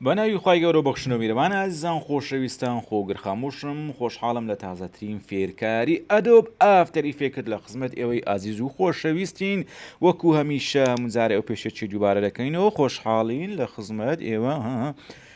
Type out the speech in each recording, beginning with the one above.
بە ناوی خی گەورە بەخشنە میرەوان ئازیزان خۆشەویستان خۆگر خاموشم خۆشحاڵم لە تازەترین فێرکاری ئەدۆب ئافتەری فێکرد لە خزمەت ئێوەی ئازیز و خۆشەویستین وەکو هەمیشە مزارە ئەو پێشەچی دووبارە دەکەینەوە خۆشحاڵین لە خزمەت ئێوە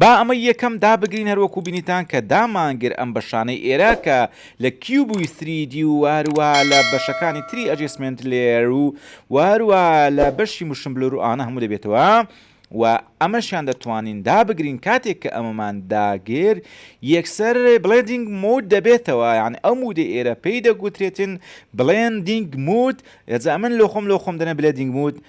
با ئەمەی یەکەم دابگرین هەروەکو بینیتان کە دامانگر ئەم بەشانەی ئێرە کە لە کیوبوی سری دی و هەروە لە بەشەکانی تری ئەجیسمنت لێر و وەروە لە بەشی مشم بلور و ئانە هەموو دەبێتەوە و ئەمەشیان دەتوانین دابگرین کاتێک کە ئەمەمان داگر یەکسەر بڵێدینگ مود دەبێتەوە یان ئەو مودە ئێرە پێی دەگوترێتن بڵێندینگ مود ئەجا من لۆ خۆم لۆ خۆم دەنە بلێدینگ مود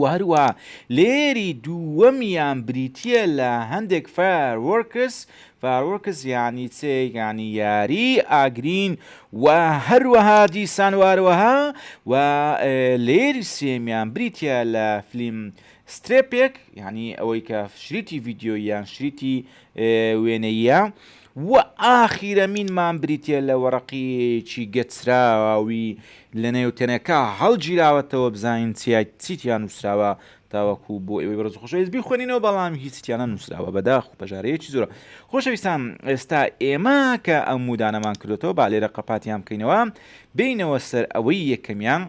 و هەروەها لێری دووەمیان بریتییە لە هەندێک فایەر وەرکس فاروەکس یانی چێگانی یاری ئاگرین و هەروەها دیسان واروەها و لێری سێمیان بریتە لە فلیم سترێپێک ینی ئەوەی کە شریتی ڤیددیۆ یان شریتی وێنەییە و ئاخیرەمینمان بریتیە لە وەڕەقیەیەکی گەچراوی لە نێوتەنەکە هەڵگیراوەتەوە بزانین چی تیا نووسراوە تاوەکو بۆ ئێوەی بەڕز خۆشەویست بیخوێنینەوە بەڵام هیچ تیانە نووسراوە بەداخ و پەژارەیەکی زۆرە خۆشەویستان ئێستا ئێمە کە ئەم مودانەمان کردێتەوە با لێرە قەپاتیان بکەینەوە بینەوە سەر ئەوەی یەکەمیان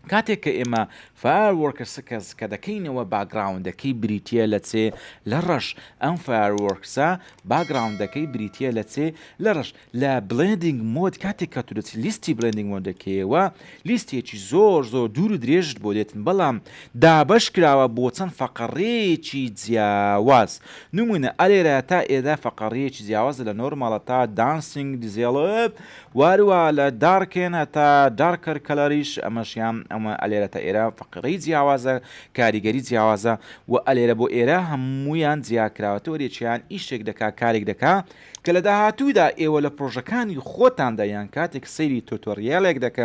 کاتێک کە ئێمە Fire Works کەس کە دەکەینەوە باگراوندەکەی بریتیە لە چێ لە ڕەش ئەم Fire Works ە باگراوندەکەی بریتیە لە چێ لە ڕەش لە Blending Mode کاتێک کە تو دەچی لیستی Blending Mode دەکەیەوە لیستێکی زۆر زۆر دوور و درێژت بۆ دێتن بەڵام دابەش کراوە بۆ چەند فەقەڕەیەکی جیاواز نمونە ئەرێرا تا ئێرە فەقەڕەیەکی جیاوازە لە نۆرماڵە تا Dancing Develop واروا لە دارکێن هەتا دارکەر کەلەریش ئەمەشیان ئەمە ئەلێرە تا ئێرە فەقرەی جیاوازە کاریگەری جیاوازە وە ئەلێرە بۆ ئێرە هەموویان جیاکراوە تۆ یەکێان ئیشێک دەکا کارێک دەکا کە لە داهاتوودا ئێوە لە پرۆژەکانی خۆتاندا یان کاتێک سەیری تۆتۆریالێک دەکە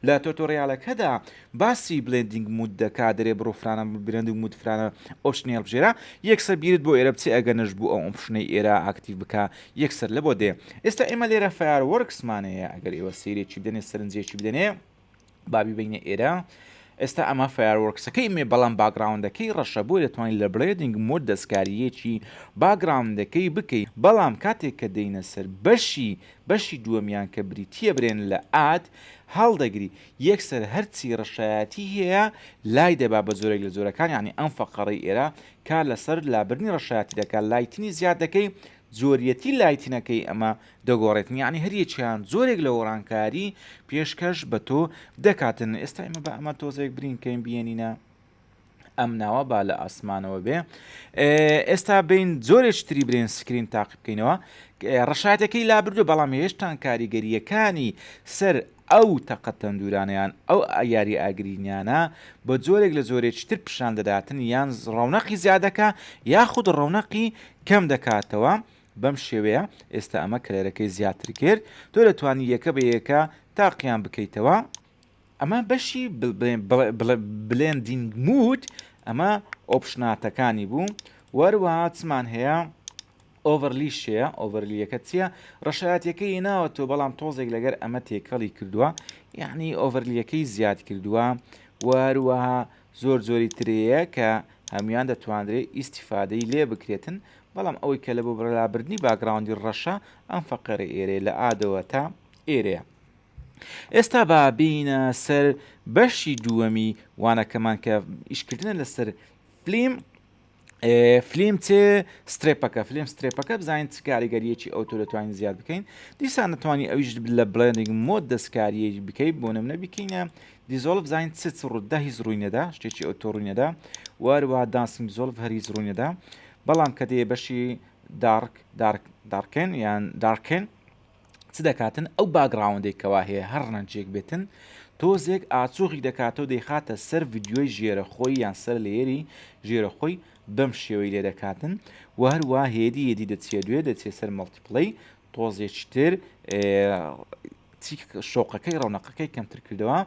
لە تۆتۆریالەکەدا باسی بلێندینگ مود دەکا دەرێ بڕۆ فرانە بلێندینگ مود فرانە ئۆپشنێل بژێرە یەکسەر بیرت بۆ ئێرە بچێ ئەگەر نەش بوو ئەو ئۆپشنەی ئێرە ئاکتیڤ بکا یەک سەر لەبۆ دێ ئێستا ئێمە لێرە فیار وەرکسمانەیە ئەگەر ئێوە سیرێکی بدەنێ سەرنجێکی بدەنێ بابی بینە ئێرە ئێستا ئەمە فیاروەرکسەکەی مێ بەڵام باگراوندەکەی ڕەشە بۆی دەتوانین لە بڵێدنگ مۆد دەستکاریەکی باگراوندەکەی بکەی بەڵام کاتێک کە دەینە سەر بەشی بەشی دووەمیان کە بریتە برێن لە ئات هەڵدەگری یەکسەر هەرچی ڕەشایەتی هەیە لای دەبا بە زۆرێک لە زۆرەکان یعنی ئەم فەقەڕی ئێرە کار لەسەر لابردنی ڕەشایەتی دەکات لایتنی زیاد دەکەی جۆریەتی لایتنەکەی ئەمە دەگۆڕێت یعنی هەریەکیان جۆرێک لە وەڕانکاری پێشکەش بە تۆ دەکاتن ئێستا ئمە بە ئەمە تۆزێک برینکەین بینینە ئەم ناوە با لە ئاسمانەوە بێ ئێستا بین زۆرێک تری برێن سکرین تاقی بکەینەوە ڕشاتەکەی لابردو بەڵام هێشتان کاریگەریەکانی سەر ئەو تەقە تەندورانە یان ئەو یاریە ئاگرینیانە بە جۆرێک لە جۆرێکی تر پیشان دەداتن یان ڕەونەقی زیاد دەکا یاخود ڕەونەقی کەم دەکاتەوە بەم شێوەیە ئێستا ئەمە کەلەرەکەی زیاتر کرد تۆ دەتوانی یەکە بە یەکە تاقیان بکەیتەوە ئەمە بەشی بلێندینگ مود ئەمە ئۆپشناتەکانی بوو وەروەها چمان هەیە ئۆڤەرلی شێە ئۆڤەرلیەکە چیە ڕەشایەتەکە هێناوە تۆ بەڵام تۆزێک لەگەر ئەمە تێکەڵی کردووە یعنی ئۆڤەرلیەکەی زیاد کردووە وهروەها زۆر زۆری ترەیە کە هەموان دەتوانرێت ئیسیفادەی لێ بکرێتن بەڵام ئەوەی کە لە بۆ بەرلابردنی باگراوندی ڕەشە ئەم فەقەرە ئێرێ لە ئادەوە تا ئێرەیە ئێستا با بینە سەر بەشی دووەمی وانەکەمان کە ئیشکردنە لەسەر فلیم فلیم چ سترێپەکە فلیم سترێپەکە بزانین چ کاریگەریەکی ئەو تۆ دەتوانین زیاد بکەین دیسان نتوانانی ئەویش لە بڵێنێک مۆ دەستکاریە بکەی بۆ نمونە بکەینە دیزۆڵ بزانین چ چ ڕوودا هیچ ڕووینەدا شتێکی ئەو تۆ ڕووینەدا واروا دانسنگ زۆڵ هەر هیچ ڕووینەدا بەڵام کە دێ بەشی دارک دارکێن یان دارکێن چ دەکاتن ئەو باگڕاوندەی کەوا هەیە هەر ڕەنجێک بێتن تۆزێک ئاچۆغی دەکاتەوە دەیخاتە سەر ڤیددیۆی ژێرە خۆی یان سەر لێری ژێرە خۆی بەم شێوەی لێ دەکاتن و هەروە هێدی هێدی دەچێ دوێ دەچێت سەر مەڵتیپڵی تۆزێکتر شۆقەکەی ڕەونەقەکەی کەمتر کردەوە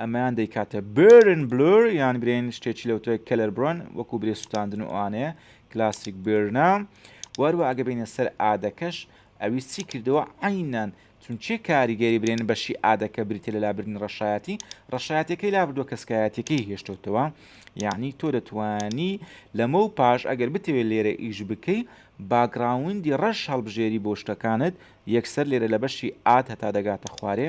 ئەمەیان دەیکاتە برن بلور یان برێن شتێکی لەوتە کەلەر برۆن وەکو برێ سووتاندن وانەیە کلاسیک برنا وەروە ئەگە بینە سەر ئادەکەش ئەویست چی کردەوە عەینەن چونچێ کاریگەری برێن بەشی ئادە کە بریتە لە لابردنی ڕەشایەتی ڕەشایەتەکەی لابردووە کەسکایەتەکەی هێشتوتەوە یعنی تۆ دەتوانی لەمە و پاش ئەگەر بتەوێت لێرە ئیش بکەی باگراوندی ڕەش هەڵبژێری بۆ شتەکانت یەکسەر لێرە لە بەشی ئاد هەتا دەگاتە خوارێ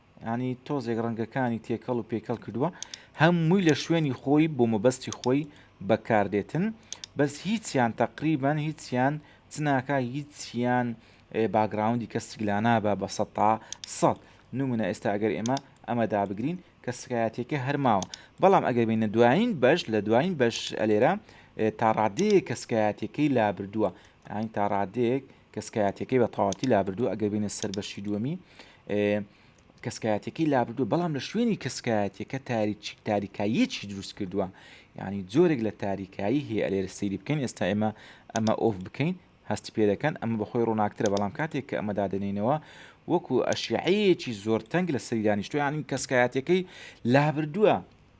یانی تۆزێک ڕەنگەکانی تێکەڵ و پێکەڵ کردووە هەمووی لە شوێنی خۆی بۆ مەبەستی خۆی بەکاردێتن بەس هیچیان تەقریبان هیچیان چناکە هیچیان باگراوندی کە سیگلانە بە بە سە تا سەد نمونە ئێستا ئەگەر ئێمە ئەمە دابگرین کە سکایەتەکە هەرماوە بەڵام ئەگەر بینە دوایین بەش لە دوایین بەش ئەلێرە تا ڕادەیە کە سکایەتەکەی لابردووە ئاین تا ڕادێک کەسکایەتیەکەی بە تەواوەتی لابردووە ئەگەر بینە سەر بەشی دووەمی کەسکایەتەکەی لابردوو بەڵام لە شوێنی کەسکایەتەکە تاریچیک تاریکاییەکی دروست کردووە ینی جۆرێک لە تاریکایی هەیە ئەلێرە سەیری بکەین ئێستا ئێمە ئەمە ئۆف بکەین هەستی پێ دەکەن ئەمە بەخۆی ڕووناکترە بەڵام کاتێک کە ئەمە دادێنینەوە وەکو ئەشیعەیەکی زۆر تەنگ لە سەریدانیشتویانی کەسکایەتەکەی لابردووە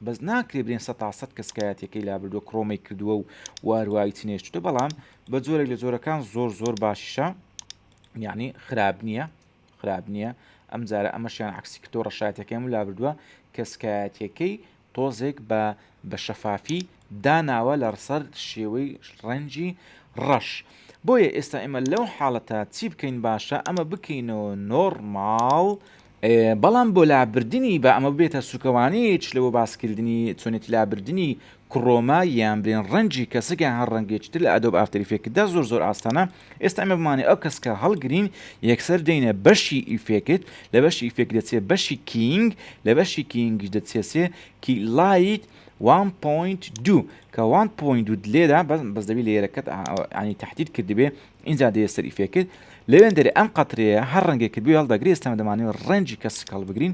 بەس ناکرێ برێن سە تا سەد کەس کایەتیەکەی لابردوە کڕۆمەی کردوە و واروای چنێشتوتە بەڵام بە جۆرێک لە جۆرەکان زۆر زۆر باشیشە یعنی خراپ نییە خراپ نییە ئەم جارە ئەمەشیان عکسی کردۆ ڕەشایەتەکەم لابردووە کەسکایەتەکەی تۆزێک بە بە شەفافی داناوە لە ڕسەر شێوەی ڕەنجی ڕەش بۆیە ئێستا ئێمە لەو حاڵەتە چی بکەین باشە ئەمە بکەینەوە نۆرماڵ بەڵام بۆ لابردنی با ئەمە ببێتە سوکەوانەیەیچ لەوە باسکردنی چۆنێتی لابردنی کڕۆما یان بلێن ڕەنگی کەسک یان هەر ڕەنگێکی تر لە ئەدۆب ئافتەر ئیفێکتدا زۆر زۆر ئاسانە ئێستا ئەمە بمانێ ئەو کەسکە هەڵگرین یەکسەر دێنە بەشی ئیفێکت لە بەشی ئیفێک دەچێت بەشی کینگ لە بەشی کینگش دەچێسێ کی لایت 1.2 کە 1.2 لێدا بەس دەبی لێرەکەت ینی تهدید کردبێ ئینجا دێ سەری فێکرد لەوێندەرێ ئەم قەترەیە هەر ڕەنگێکت بوێ هەڵدەگرێ ئێستە دەمانەوێ ڕەنجی کەسک هەڵبگرین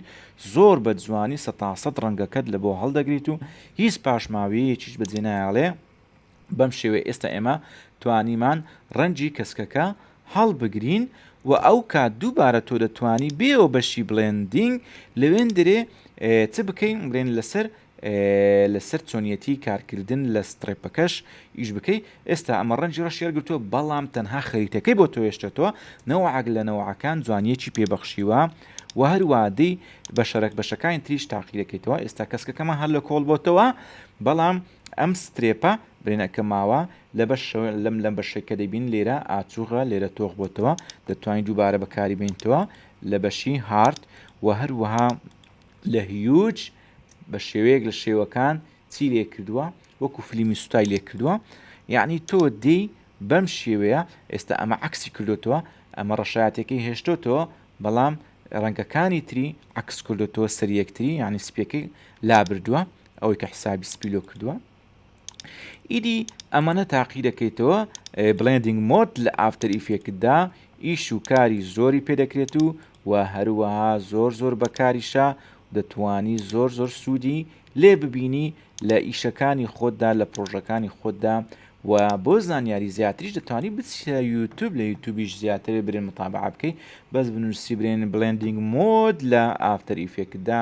زۆر بە جوانی سە تا سەد ڕەنگەکەت لە بۆ هەڵدەگریت و هیچ پاشماویەیەکیش بەجێ نایەڵێ بەم شێوەیە ئێستا ئێمە توانیمان ڕەنجی کەسکەکە هەڵبگرین و ئەو کات دووبارە تۆ دەتوانی بێەوە بەشی بڵێندینگ لەوێن درێ چ بکەین بڵێن لەسەر لەسەر چۆنیەتی کارکردن لە ستڕێپەکەش ئیش بکەی ئێستا ئەمە ڕەنجی ڕەشی هەلگرتووە بەڵام تەنها خەریتەکەی بۆ تۆ هێشتێتەوە نەوەعەک لە نەوەعەکان جوانیەکی پێبەخشیوە و هەروادەی بە شەرەک بەشەکانی تریش تاقیەکەیتەوە ئێستا کەسکەکەمان هەر لە کۆڵ بۆتەوە بەڵام ئەم سترێپە برێنەکە ماوە لە بەش لەم لەم بەشێکە دەبین لێرە ئاچوغە لێرە تۆخ بۆتەوە دەتوانین دووبارە بەکاری بینتەوە لە بەشی هارد و هەروەها لە هیوج بە شێوەیەک لە شێوەکان چی لێ کردووە وەکو فلیمی سوتای لێ کردووە یعنی تۆ دێی بەم شێوەیە ئێستا ئەمە عکسی کردوتەوە ئەمە ڕەشایەتەکەی هێشتۆتەوە بەڵام ڕەنگەکانی تری عکس کردوتەوە سەر یەکتری یعنی سپیەکەی لابردووە ئەوەی کە حسابی سپیلۆ کردووە ئیدی ئەمەە تاقی دەکەیتەوە بڵێندنگ مۆت لە ئافتەر ئیفێکتدا ئیش و کاری زۆری پێدەکرێت و و هەروەها زۆر زۆر بەکاریشە دەتانی زۆر زۆر سوودی لێ ببینی لە ئیشەکانی خۆتدا لە پرۆژەکانی خۆتدا و بۆ زانیاری زیاتریش دەتوانانی بچە یوتوب لە یوتوبیش زیاتر برێن مطابع بکەیت بەس بنووسی برێن بلندنگ مۆد لە ئافتەر ئیفێکتدا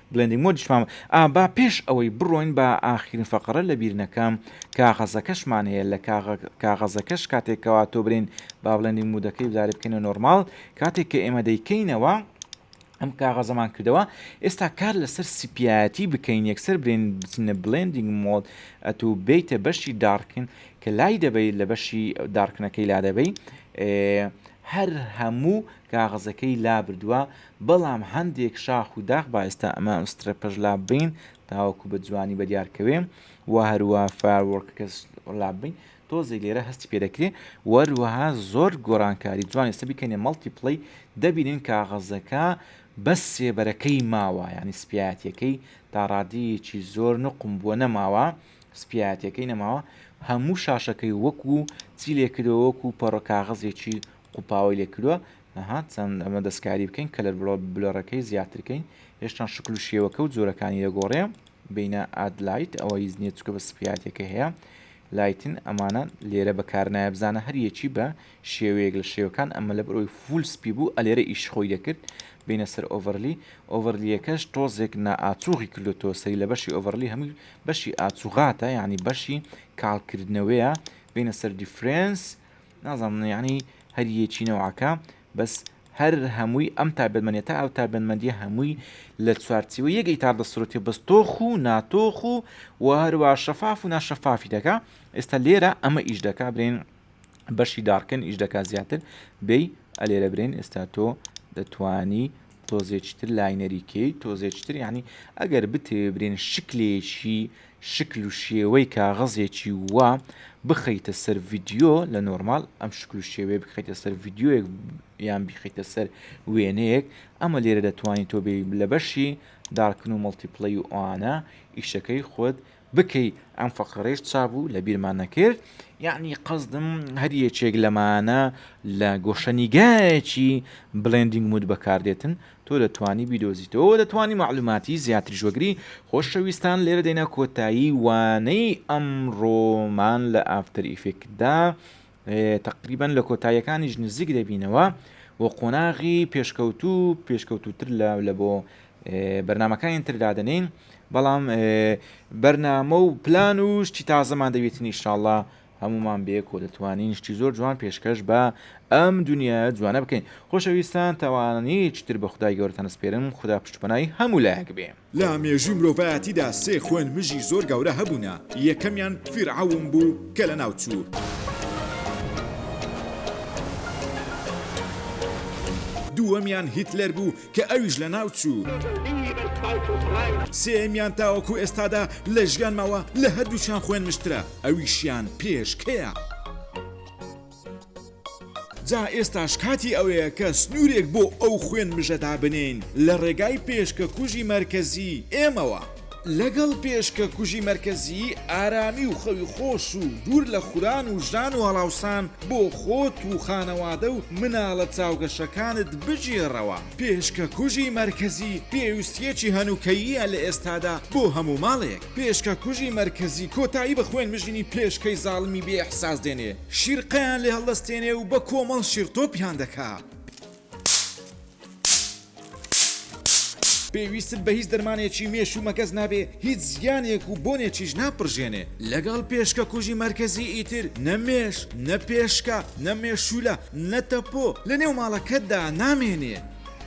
بلێندینگ مۆد یشمان ئا با پێش ئەوەی بڕۆین بە ئاخیرین فەقرە لەبیر نەکەم کاغەزەکەشمان هەیە لە کاغەزەکەش کاتێک کەوا تۆ برین با بلێندینگ مودەکەی بداری بکەینە نۆرمال کاتێک کە ئێمە دەیکەینەوە ئەم کاغەزەمان کردەوە ئێستا کار لەسەر سپایەتی بکەین یەکسەر برێن بچینە بلندینگ مۆد ئەتو بیتە بەشی داڕکن کە لای دەبەی لە بەشی داڕکنەکەی لا دەبەی هەر هەموو کاغەزەکەی لا بردووە بەڵام هەندێک شاخ و داخ با ئێستا ئەمە ئەم سترە پەژ لاب بین تاوەکو بە جوانی بە دیار کەوێ و هەروە فایەرۆرکەکە لاب بین تۆزێک لێرە هەستی پێ دەکرێ وەروەها زۆر گۆرانکاری جوان ئێستا بیکەنێ مەڵتی پڵی دەبینین کاغەزەکە بەس سێبەرەکەی ماوە ینی سپایەتەکەی تا ڕادەیەکی زۆر نقم بووە نەماوە سپایەتەکەی نەماوە هەموو شاشەکەی وەکو چی لێکرەوەکو پەڕۆ کاغەزێکی قوپاوەی لێکرۆ ئەها چەند ئەمە دەستکاری بکەین کەلەر بلۆرەکەی زیاترکەین هێشتان شکل و شێوەکە و جۆرەکانی دەگۆڕێ بینە ئادلایت ئەوە هیچ نیە چکە بە سپیاتەکە هەیە لایتن ئەمانە لێرە بەکارنایە بزانە هەریەکی بە شێوەیەک لە شێوەکان ئەمە لە بەرەوەی فول سپی بوو ئەلێرە ئیش خۆی دەکرد بینە سەر ئۆڤەرلی ئۆڤەرلیەکەش تۆزێک نائاچوغی کردوتۆ سەری لە بەشی ئۆڤەرلی هەموو بەشی ئاچوغاتە یعنی بەشی کاڵکردنەوەیە بینە سەر دیفرەنس نازانم یەعنی هەر یەکی نەوعەکە بەس هەر هەمووی ئەم تابەنمەنێتە ئەو تابەنمەندی هەمووی لە چوارچیوە یەک ئیتار دەسرەتی بەس تۆخ و ناتۆخ و و هەروە شەفاف و ناشەفافی دەکا ئێستا لێرە ئەمە ئیش دەکا برێن بەشی داڕکن ئیش دەکا زیاتر بێ ئەلێرە برێن ئێستا تۆ دەتانی تۆزێکی تر لاینەری کەیت تۆزێکی تر یعنی ئەگەر بتەوێ برێن شکلێکی شکل و شێوەی کاغەزێکی وا بخەیتە سەر ڤیددیو لە نۆرمال ئەم شکل و شێوەیە بخیتە سەر ڤیددیوەک یان بیخیتە سەر وێنەیەک ئەمە لێرە دەتوانین تۆ بێ لە بەشی دارکن و مڵتیپلەی و ئەوانە ئیشەکەی خۆت بکەی ئەم فەقرەیش چابوو لە بیرمان نەکرد یعنی قەزدم هەر یەکێک لەمانە لە گۆشەنیگایەکی بلندینگ مود بەکاردێتن تۆ دەتوانی بیدۆزیتەوە دەتوانی معلوماتی زیاتر ژۆگری خۆشەویستان لێرە دێنە کۆتایی وانەی ئەمڕۆمان لە ئافتەر ئیفێکدا تەقریبەن لە کۆتاییەکانیش نزیک دەبینەوە و قۆناغی پێشکەوتوو پێشکەوتوتر لە لە بۆ بەرنمەکانی تر دادنین بەڵام بەرنامە و پلان و شتی تازەمان دەوێتن ئیشاءله هەمومان بێک و دەتوانین شتی زۆر جوان پێشکەش بە ئەم دنیا جوانە بکەین خۆشەویستان تاوانانی چتر بە خدای گەورتان سپێرم خدا پشتپنای هەموو لایەک بێ. لە مێژووی مرۆڤایەتیدا سێ خوێن مژی زۆر گەورە هەبوونە، یەکەمیان فیرعەون بوو کە لەناوچوو، دووەمیان هیتلەر بوو کە ئەویش لەناوچوو، سێیەمیان تاوەکو ئێستادا لە ژیان ماوە لە هەردووکیان خوێن مژترە ئەویشیان پێشکەیە. جا ئێستاش کاتی ئەوەیە کە سنوورێک بۆ ئەو خوێن مژە دابنێین لە ڕێگای پێشکەکوژی مەرکەزیی ئێمەوە. لەگەڵ پێشکەکوژی مەرکەزیی ئارامی و خەوی خۆش و دوور لە خوران و ژان و هەڵاوسان بۆ خۆت و خانەوادە و مناڵە چاوگەشەکانت بگێڕەوە. پێشکەکوژی مەرکەزیی پێویستییەکی هەنووکەییە لە ئێستادا بۆ هەموو ماڵێک. پێشکە کوژی مەرکەزی کۆتایی بە خوێن مژینی پێشکەی زاڵمی بێ ئیحساس دێنێ شیرقەیان لێ هەڵدەستێنێ و بە کۆمەڵ شیرتۆپیان دەکا. پێویستت بە هیچ دەرمانێکی مێش و مەگەز نابێ هیچ زیانێک و بۆنێکیش ناپڕژێنێ لەگەڵ پێشکە کوژی مەرکەزی ئیتر نە مێش نە پێشکە نە مێشولە نە تەپۆ لە نێو ماڵەکەتدا نامێنێ.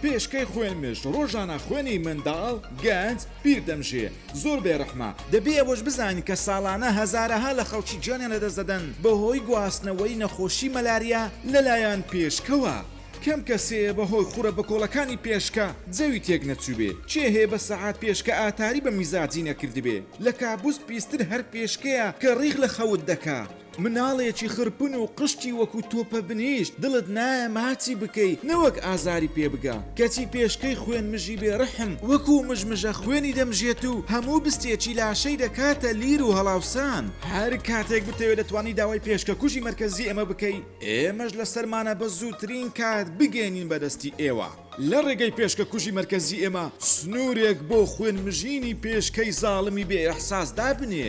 پێشکەی خوێن مژ ڕۆژانە خوێنی منداڵ، گەنج، پیر دەمژێ. زۆر بێ ڕەحمە، دەبێ ئەوەش بزانین کە ساڵانە هەزارەها لە خەڵکی گیانیان لەدەست دەدەن بەهۆی گواستنەوەی نەخۆشی مەلاریا لەلایەن پێشکەوە، کەم کەس هەیە بەهۆی خورە بەکۆڵەکانی پێشکە جەوی تێک نەچووبێ، کێ هەیە بە سەعات پێشکە ئاتاری بە میزاجی نەکردبێ، لە کابوس پیستر هەر پێشکەیە کە ڕیخ لە خەوت دەکا. مناڵێکی خرپن و قشتی وەکو تۆ پەبنیشت دڵت نایە ماچی بکەی نەوەک ئازاری پێ بگا کەچی پێشکەی خوێن مژی بێ رحم وەکو مژمژە خوێنی دەمژێت و هەموو بستێکی لاشەی دەکاتە لیر و هەڵاوسان هەر کاتێک بتەوێ دەتوانی داوای پێشکە کوژی مەرکەزی ئێمە بکەی ئێمەش لە سەرمانە بە زووترین کات بگەینین بە دەستی ئێوە لە رێگەی پێشکە کوژی مەرکەزی ئێمە سنوورێک بۆ خوێن مژینی پێشکەی زاڵمی بێ ئیحساس دابنێ